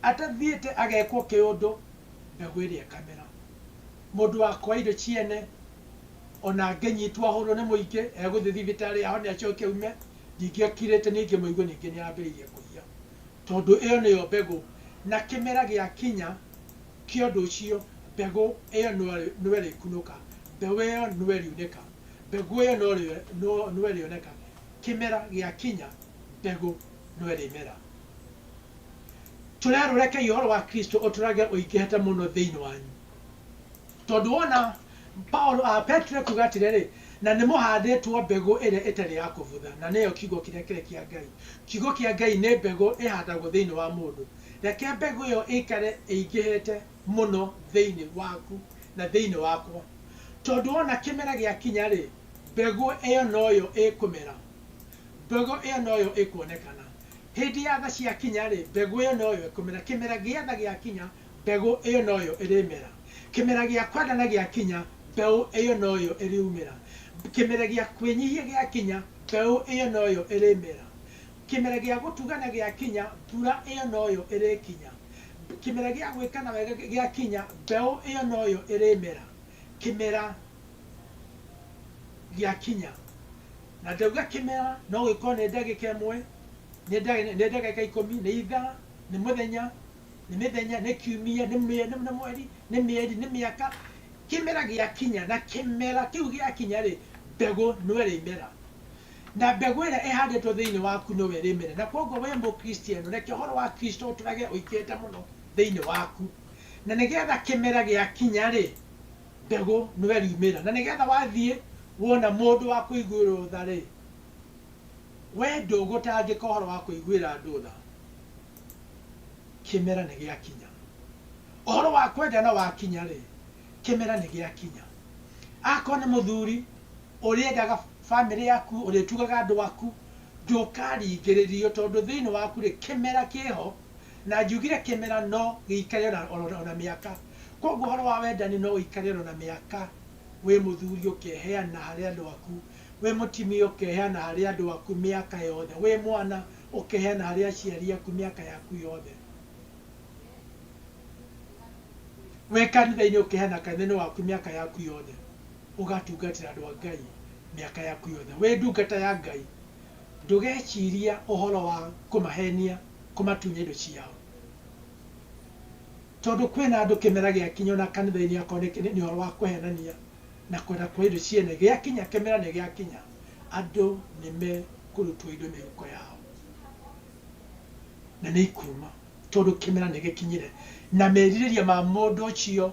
S1: Atathiĩte agekwo kĩũndũ, mbegũ ĩrĩa ĩkamera. Mũndũ wakoa indo ciene, o na angĩnyitwo ahũrwo nĩ mũingĩ, egũthiĩ thibitarĩ ahone acoke aume, ningĩ akirĩte, ningĩ mũigue ningĩ nĩ ambĩrĩirie kũiya. Tondũ ĩyo nĩyo mbegũ. Na kĩmera gĩakinya. Kĩa ũndũ ũcio, mbegũ ĩyo no ĩrĩkunũka, mbeũ ĩyo no ĩriunĩka, mbegũ ĩyo no ĩrĩoneka, kĩmera gĩakinya, mbegũ no ĩrĩmera. Tũrerwo, Rekei ũhoro wa Kristo ũtũũrage ũingĩhĩte mũno thĩinĩ wanyu. Tondũ wona, Paulo, Petero ekuuga atĩrĩrĩ, Na nĩ mũhaandĩtwo mbegũ ĩrĩa ĩtarĩ ya kũbutha, na nĩyo kiugo kĩrĩa kĩrĩ kĩa Ngai. Kiugo kĩa Ngai nĩ mbegũ ĩhandagwo thĩinĩ wa mũndũ, Reke mbegũ ĩyo ĩikare ĩingĩhĩte mũno thĩinĩ waku na thĩinĩ wakwa, tondũ o na kĩmera gĩakinya-rĩ, mbegũ ĩyo noyo ĩkũmera, mbegũ ĩyo noyo ĩkuonekana. Hĩndĩ ya tha ciakinya-rĩ, mbegũ ĩyo noyo ĩkũmera. Kĩmera gĩa tha gĩakinya, mbegũ ĩyo noyo ĩrĩmera. Kĩmera gĩa kwendana gĩakinya, mbeũ ĩyo noyo ĩriumĩra. Kĩmera gĩa kwĩnyihia gĩakinya, mbeũ ĩyo noyo ĩrĩmera. Kĩmera gĩa gũtugana gĩakinya, mbura ĩyo noyo ĩrĩkinya. Kĩmera gĩa gwĩkana wega gĩakinya, mbeũ ĩyo noyo ĩrĩmera. Kĩmera gĩakinya. Na ndauga kĩmera, no gĩkorwo nĩ ndagĩka ĩmwe, nĩ nĩ ndagĩka ikũmi, nĩ ithaa, nĩ mũthenya, nĩ mĩthenya, nĩ kiumia, nĩ mĩ nĩ mweri, nĩ mĩeri, nĩ mĩaka. Kĩmera gĩakinya, na kĩmera kĩu gĩakinya-rĩ, mbegũ no ĩrĩmera. Na mbegũ ĩrĩa ĩhandĩtwo thĩinĩ waku nĩwe ĩrĩmera. Na kwoguo wee Mũkristiano, reke ũhoro wa Kristo ũtũũrage ũikĩrĩte mũno thĩinĩ waku. Na nĩgeetha kĩmera gĩakinya-rĩ, mbegũ nĩwe ĩriumĩra. Na nĩgeetha wathiĩ wona mũndũ wa kũiguĩrũo tha-rĩ, wee ndũgũtangĩka ũhoro wa kũiguĩra andũ tha kĩmera nĩ gĩakinya. Ũhoro wa kwendana wakinya-rĩ, kĩmera nĩ gĩakinya. Akorũo nĩ mũthuri ũrĩendaga famĩlĩ yaku, ũrĩtugaga andũ aku, ndũkaringĩrĩrio, tondũ thĩinĩ waku-rĩ, kĩmera kĩ ho, na njiugire kĩmera no gĩikare o na, o na mĩaka. Kwoguo ũhoro wa wendani no ũikare o na, o na mĩaka, wĩ mũthuri ũkeheana harĩ andũ aku, wĩ mũtimia ũkeheana harĩ andũ aku mĩaka yothe, wĩ mwana ũkeheana harĩ aciari aku mĩaka yaku yothe, wĩ kanitha-inĩ ũkeheana kanitha-inĩ waku mĩaka yaku yothe. ũgatungatĩra andũ a Ngai mĩaka yaku yothe. Wĩ ndungata ya Ngai, ndũgeciria ũhoro wa kũmahenia kũmatunya indo ciao. Tondũ kwĩna andũ kĩmera gĩakinya ona kanitha-inĩ akorwo nĩ nĩ ũhoro wa kũhenania na kwenda kuoya indo cia ene, gĩakinya kĩmera nĩ gĩakinya, andũ nĩ mekũrutwo indo mĩhuko yao. Na nĩ ikuuma tondũ kĩmera nĩ gĩkinyire. Na merirĩria ma mũndũ ũcio.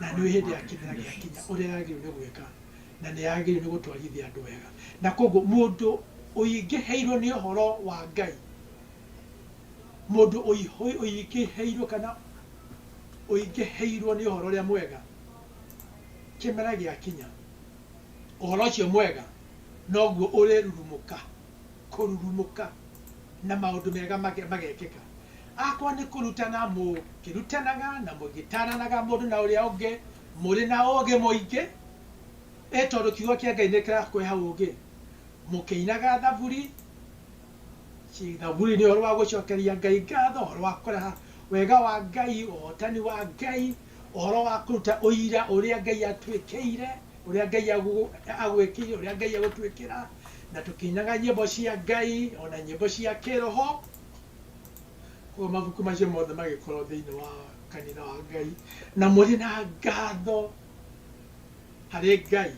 S1: na nĩũĩ hĩndĩ ya kĩmera gĩakinya ũrĩa yagĩrĩirwo nĩ gwĩka, na nĩ yagĩrĩirwo nĩ gũtwarithia andũ wega. Na koguo mũndũ ũingĩhĩirwo nĩ ũhoro wa Ngai, mũndũ ũingĩhĩirwo kana ũingĩhĩirwo nĩ ũhoro ũrĩa mwega, kĩmera gĩakinya ũhoro ũcio mwega noguo ũrĩrurumũka. kũrurumũka na maũndũ mega magekĩka. Akorwo nĩ kũrutana mũkĩrutanaga na mũgĩtaranaga mũndũ na ũrĩa ũngĩ mũrĩ na ũgĩ mũingĩ, ĩ tondũ kiugo kĩa Ngai nĩ kĩrakũhe ũgĩ, mũkĩinaga thaburi, thaburi nĩ ũhoro wa gũcokeria Ngai ngatho, ũhoro wa kũraha wega wa Ngai, ũhotani wa Ngai. Ũhoro wa kũruta ũira ũrĩa Ngai atwĩkĩire, ũrĩa Ngai agwĩkĩire, ũrĩa Ngai egũtwĩkĩra, na tũkĩinaga nyĩmbo cia Ngai, o na nyĩmbo cia kĩroho. Koguo mabuku macio mothe magĩkorwo thĩinĩ wa kanitha wa Ngai, na mũrĩ na ngatho harĩ Ngai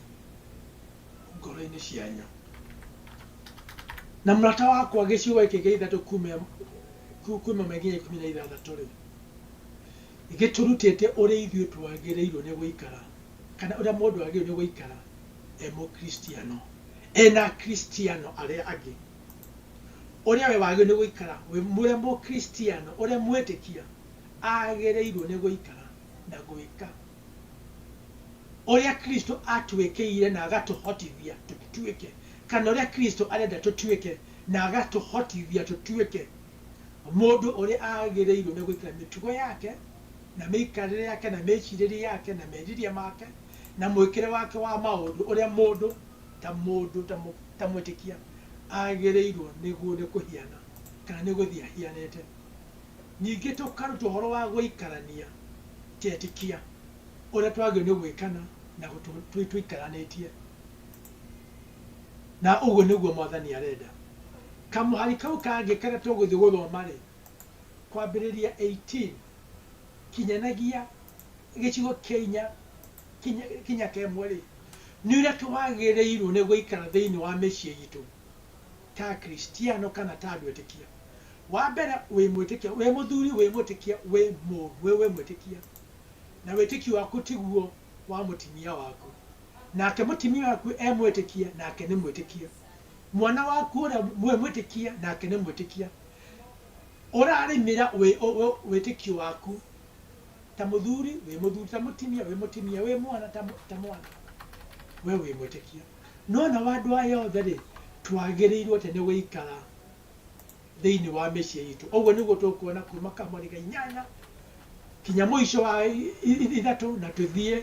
S1: ngoro-inĩ cianyu. Na mũrata wakwa gĩcigo gĩkĩ gĩa ithatũ kuma ĩmwe nginya ikũmi na ithathatũ-rĩ. Gĩtũrutĩte ũrĩa ithuĩ twagĩrĩirwo nĩ gũikara, kana ũrĩa mũndũ agĩrĩirwo nĩ gũikara e Mũkristiano, e na Akristiano arĩa angĩ. Ũrĩa we wagĩrĩirwo nĩ gũikara wĩ ũrĩa Mũkristiano, ũrĩa mwĩtĩkia agĩrĩirwo nĩ gũikara na gwĩka, ũrĩa Kristo atwĩkĩire na agatũhotithia tũtuĩke, kana ũrĩa Kristo arenda tũtuĩke na agatũhotithia tũtuĩke Mũndũ ũrĩa agĩrĩirwo nĩ gwĩkĩra mĩtugo yake, na mĩikarĩre yake, na mĩĩcirĩrie yake, na meciria make, na mwĩkĩre wake wa maũndũ ũrĩa mũndũ, ta mũndũ, ta mũ, ta mwĩtĩkia, agĩrĩirwo nĩguo nĩ kũhiana, kana nĩ gũthiĩ ahianĩte. Ningĩ tũkarutwo ũhoro wa gũikarania ta etĩkia, ũrĩa twagĩrĩirwo nĩ gwĩkana na gũtũ, tũikaranĩtie. Na ũguo nĩguo Mwathani arenda. Kamũhari kau kangĩ karĩa tũgũthiĩ gũthoma-rĩ, kwambĩrĩria eighteen kinyanagia gĩcigo kĩa inya kinya kinya kĩa ĩmwe-rĩ, nĩ ũrĩa twagĩrĩirwo nĩ gũikara thĩiniĩ wa mĩciĩ itũ ta Akristiano kana ta andũ etĩkia. Wa mbere, wĩ mwĩtĩkia, wĩ mũthuri wĩ mwĩtĩkia, wĩ mũ wĩ mwĩtĩkia, na wĩtĩkio waku tiguo wa mũtimia waku. nake mũtimia waku e mwĩtĩkia, nake nĩ mwĩtĩkia. Mwana waku ũrĩa mwĩ mwĩtĩkia, nake nĩ mwĩtĩkia. Ũrarĩmĩra wĩtĩkio waku ta mũthuri wĩ mũthuri, ta mũtimia wĩ mũtimia, wĩ mwana ta mwana, we wĩ mwĩtĩkia. No nao andũ aya othe-rĩ, twagĩrĩirwo atĩ nĩ gũikara thĩinĩ wa mĩciĩ itũ. Ũguo nĩguo tũkuona kuma Kamũri ga inyanya kinya mũico wa ithatũ na tũthiĩ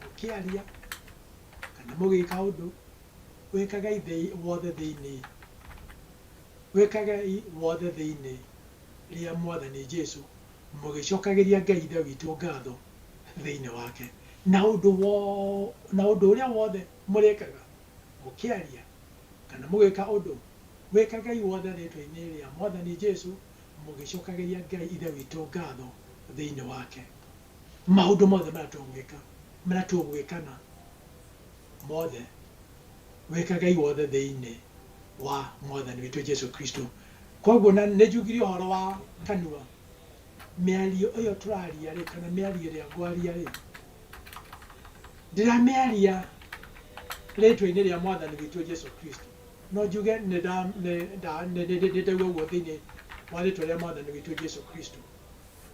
S1: mũkĩaria, kana mũgĩka ũndũ, wĩkagai thĩ wothe thĩinĩ wĩkagai wothe thĩinĩ rĩa Mwathani Jesu, mũgĩcokagĩria Ngai Ithe witũ ngatho thĩinĩ wake. Na ũndũ wo na ũndũ ũrĩa wothe mũrĩkaga, mũkĩaria, kana mũgĩka ũndũ, wĩkagai wothe rĩĩtwa-inĩ rĩa Mwathani Jesu, mũgĩcokagĩria Ngai Ithe witũ ngatho thĩinĩ wake. maũndũ mothe marĩa tũgwĩka, marĩa tũgwĩkana mothe, wĩkagei wothe thĩinĩ wa Mwathani witũ Jesu Kristo. Koguo na nĩ njugire ũhoro wa kanua, mĩario ĩyo tũraria rĩ, kana mĩario ĩrĩa ngwaria rĩ, ndiramĩaria rĩtwa-inĩ rĩa Mwathani witũ Jesu Kristo, no njuge nĩ nda- nĩ nda- nĩ- nĩ- nĩ- nĩ ndauga ũguo thĩinĩ wa rĩtwa rĩa Mwathani witũ Jesu Kristo.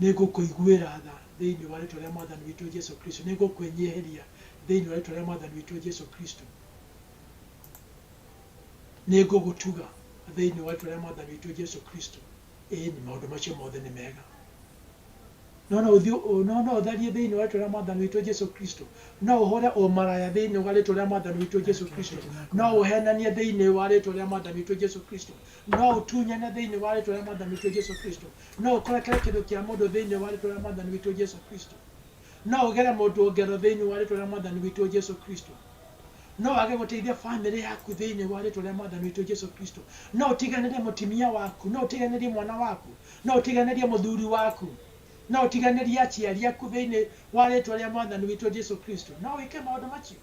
S1: Nĩngũkũiguĩra tha thĩinĩ wa rĩĩtwa rĩa Mwathani witũ Jesu Kristo. Nĩngũkwĩnyihĩria thĩinĩ wa rĩĩtwa rĩa Mwathani witũ Jesu Kristo. Nĩngũgũtuga thĩinĩ wa rĩĩtwa rĩa Mwathani witũ Jesu Kristo. Ĩĩni, maũndũ macio mothe nĩ mega. No no ũthiĩ ũ, no no ũtharie thĩinĩ wa rĩĩtwa rĩa Mwathani witũ Jesu Kristo. No ũhũũre ũmaraya thĩinĩ wa rĩĩtwa rĩa Mwathani witũ Jesu Kristo. No ũheenanie thĩinĩ wa rĩĩtwa rĩa Mwathani witũ Jesu Kristo. No ũtunyane thĩinĩ wa Rĩĩtwa rĩa Mwathani witũ Jesu Kristo. No ũkũrekere kĩndũ kĩa mũndũ thĩinĩ wa Rĩĩtwa rĩa Mwathani witũ Jesu Kristo. No ũgere mũndũ ngero thĩinĩ wa Rĩĩtwa rĩa Mwathani witũ Jesu Kristo. No wage gũteithia famĩlĩ yaku thĩinĩ wa Rĩĩtwa rĩa Mwathani witũ Jesu Kristo. No ũtiganĩrie mũtimia waku. No ũtiganĩrie mwana waku. No ũtiganĩrie mũthuri waku. No ũtiganĩrie aciari aku thĩinĩ wa Rĩĩtwa rĩa Mwathani witũ Jesu Kristo. No wĩke maũndũ macio.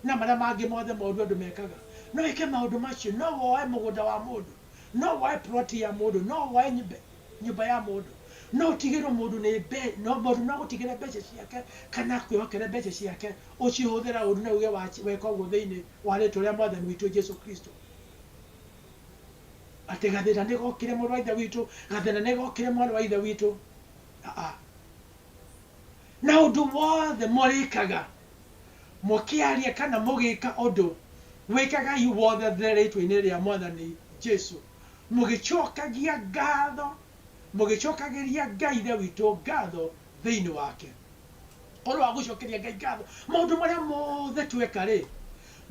S1: na marĩa mangĩ mothe moru andũ mekaga. No ĩke maũndũ macio, no woe mũgũnda wa mũndũ, no woe plot ya mũndũ, no woe nyũmba ya mũndũ, no ũtigĩrwo mũndũ nĩ mũndũ no agũtigĩre mbeca ciake kana akwĩhokere mbeca ciake ũcihũthĩra ũru na uge weka ũguo thĩinĩ wa rĩtwa rĩa Mwathani witũ Jesu Kristo. Atĩ gathĩna nĩ gokire mũrũ wa Ithe witũ, gathĩna nĩ gokire mwarĩ wa Ithe witũ. Aa. Na ũndũ wothe mũrĩkaga, mũkĩaria kana mũgĩka ũndũ, wĩkagai wothe rĩĩtwa-inĩ rĩa Mwathani Jesũ, mũgĩcookagia ngaatho, mũgĩcookagĩria Ngai Ithe witũ ngaatho thĩinĩ wake. Ũhoro wa gũcookeria Ngai ngaatho, maũndũ marĩa mothe tweka-rĩ,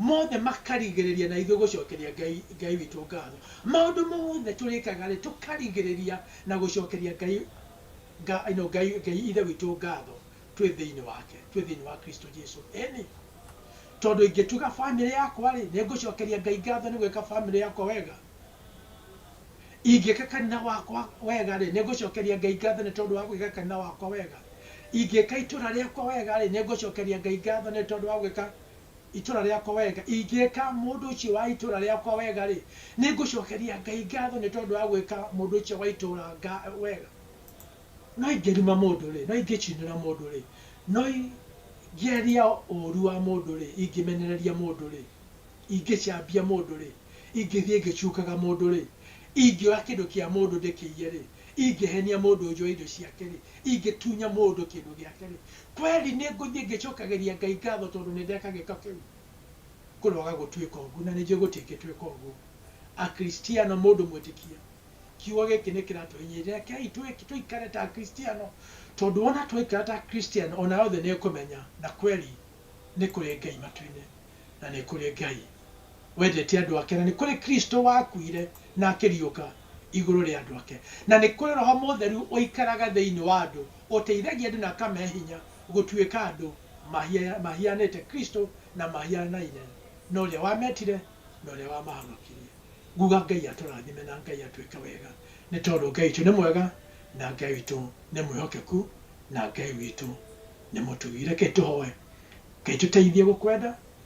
S1: mothe makarigĩrĩria na ithuĩ gũcookeria Ngai, Ngai witũ ngaatho. Maũndũ mothe tũrĩkaga-rĩ, tũkarigĩrĩria na gũcookeria Ngai. Nga, ino, Ngai, Ngai Ithe witũ ngatho twĩ thĩinĩ wake, twĩ thĩinĩ wa Kristo Jesu. Ĩni. Tondũ ingĩtuga famĩlĩ yakwa-rĩ, nĩngũcokeria Ngai ngatho nĩ gwĩka famĩlĩ yakwa wega. Ingĩka kanitha wakwa wega-rĩ, nĩngũcokeria Ngai ngatho nĩ tondũ wa gwĩka kanitha wakwa wega. Ingĩka itũra rĩakwa wega-rĩ, nĩngũcokeria Ngai ngatho nĩ tondũ wa gwĩka itũũra rĩakwa wega, ingĩka mũndũ ũcio wa itũũra rĩakwa wega-rĩ, nĩngũcokeria Ngai ngatho nĩ tondũ wa gwĩka mũndũ ũcio wa itũũra wega. No ingĩruma mũndũ-rĩ, no ingĩcinĩra mũndũ-rĩ, no ingĩaria ũũru wa mũndũ-rĩ, ingĩmenereria mũndũ-rĩ, ingĩcambia mũndũ-rĩ, ingĩthiĩ ngĩcungaga mũndũ-rĩ, ingĩoya kĩndũ kĩa mũndũ ndĩkĩiye-rĩ, ingĩhenia mũndũ njoe indo ciake-rĩ, ingĩtunya mũndũ kĩndũ gĩake-rĩ, Kweli nĩ ngũthiĩ ngĩcokagĩria Ngai ngatho tondũ nĩ ndeka gĩĩko kĩu? Kũroaga gũtuĩka ũguo, na nĩ njũĩ gũtingĩtuĩka ũguo. Akristiano, mũndũ mwĩtĩkia, kiugo gĩkĩ nĩ kĩratũhinyĩrĩria. Rekei tũikare ta Akristiano, tondũ wona twaikara ta Akristiano, o nayo thĩ nĩ ĩkũmenya na kweli nĩ kũrĩ Ngai matu-inĩ, na nĩ kũrĩ Ngai wendete andũ ake, na nĩ kũrĩ Kristo wakuire na akĩriũka igũrũ rĩa andũ ake, na nĩ kũrĩ Roho Mũtheru ũikaraga thĩinĩ wa andũ. ũteithagia andũ na ũkamahe hinya gũtuĩka andũ mahianĩte Kristo na mahianaine na ũrĩa wametire na ũrĩa wamahonokirie. Nguga Ngai atũrathime na Ngai atwĩke wega nĩ tondũ Ngai witũ nĩ mwega na Ngai witũ nĩ mwĩhokeku na Ngai witũ nĩ mũtũgĩ. Reke tũhoe. Ngai tũteithie gũkwenda